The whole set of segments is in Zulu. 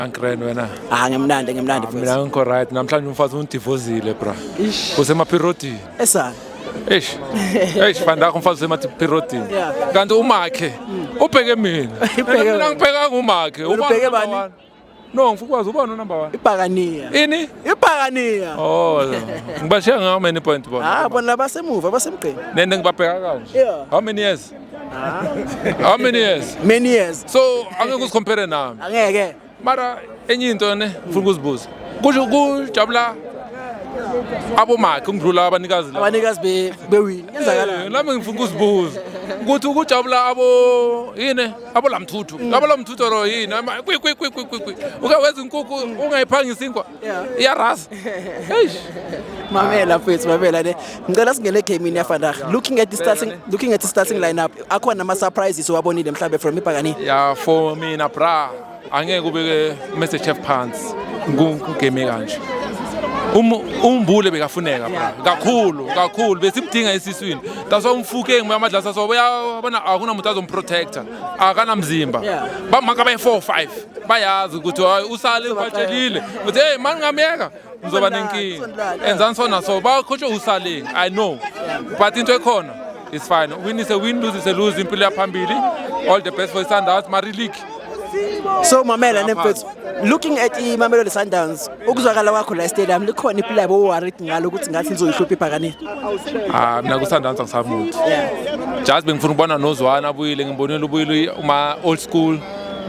Ankren wena. Ah ngimnandi ngimnandi futhi. Mina ngikho right namhlanje umfazi undivozile bra. Usemapiroti. Esana. Eish. Eish fanda umfazi usemapiroti. Kanti umakhe ubheke mina. Ubheke mina ngibheka ngumakhe. Ubheke bani? No ngifukwazi ubani number 1? Ibhakaniya. Ini? Ibhakaniya. Oh. Ngibashiya ngawo many point bona. Ah bona labasemuva basemgqeni. Nende ngibabheka kanje. How many years? how many years many years so angeke usicompare nami angeke mara enye into ne funa ukuzibuza kusho kujabula abomakhe ngidlula abanikazi la abanikazi be bewini yenzakalani lami ngifuna ukuzibuza ukuthi ukujabula abo yini abolamthuthu abalamthuthu ro yini kwi kwi kwi kwi kwi uke wenza inkukhu ungayiphangisa inkwa iyaraza eish mamela mfethu mamela ne ngicela singene egamini yafandah looking at the starting looking at the starting lineup akhona ama surprises owabonile mhlawumbe from ibhakani ya for mina bra angeke ubeke message chef phansi kugame kanje Um- umbule bekafuneka bra kakhulu kakhulu besimdinga esiswini that's why umfuke ngibuya amadlasa so uyabona akunamuntu azomprotector akanamzimba bamaka bayi-4 or 5 bayazi ukuthi hayi usale ubatshelile ukuthi heyi mani ngamyeka ngizoba nenkinga enzani so naso bakhotshwe usaleng i know but into ekhona is fine win is a win lose is a lose impilo yaphambili all the best for isundowns mari league so mamela nemfethu looking at imamelodi sundowns ukuzwakala kwakho la stadium likhona iplayi bowarit ngalo ukuthi ngathi lizoyihlupha ibhakanile ah mina kusandansa ngisamuthi just bengifuna ukubona nozwana abuyile ngimbonile ubuyile uma old school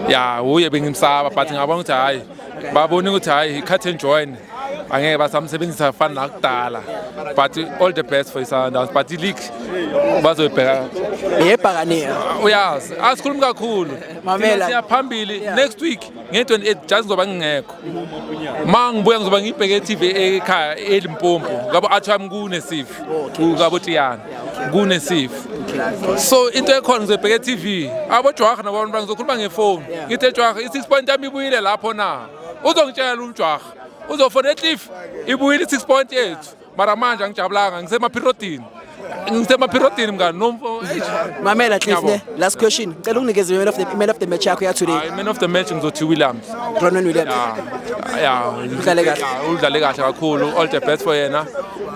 ya uye bengimsaba but ngabona ukuthi hhayi babone ukuthi hhayi cut and join angeke basamsebenzisa fani nakudala but all the best for isundowns but ileague bazoyibheka yebhakanile uyazi asikhulumi kakhulu mamela siyaphambili next week nge-28 just ngizoba ngingekho ma ngibuya ngizoba ngiyibheke e-tv ekhaya elimpompo ngabo athi wami kunesifo ngabo tiyana kunesifo so into ekhona ngizoyibheka e-tv abojwaha nabantu bangizokhuluma ngefoni ngithe jwaha i-six point yami ibuyile lapho na uzongitshela umjwaha uzofona ecliff ibuyile i-six point yethu mara manje angijabulanga ngisemaphirodini ngisemaphirodini mngani nomfo mamela cliff ne last question ngicela unginikeze man of the man of the match yakho ya today man of the match ngizothi williams ronan williams ya udlale kahle udlale kahle kakhulu all the best for yena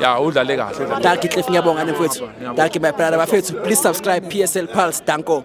ya udlale kahle danki cliff ngiyabonga nemfowethu danki my brother bafethu please subscribe psl pulse danko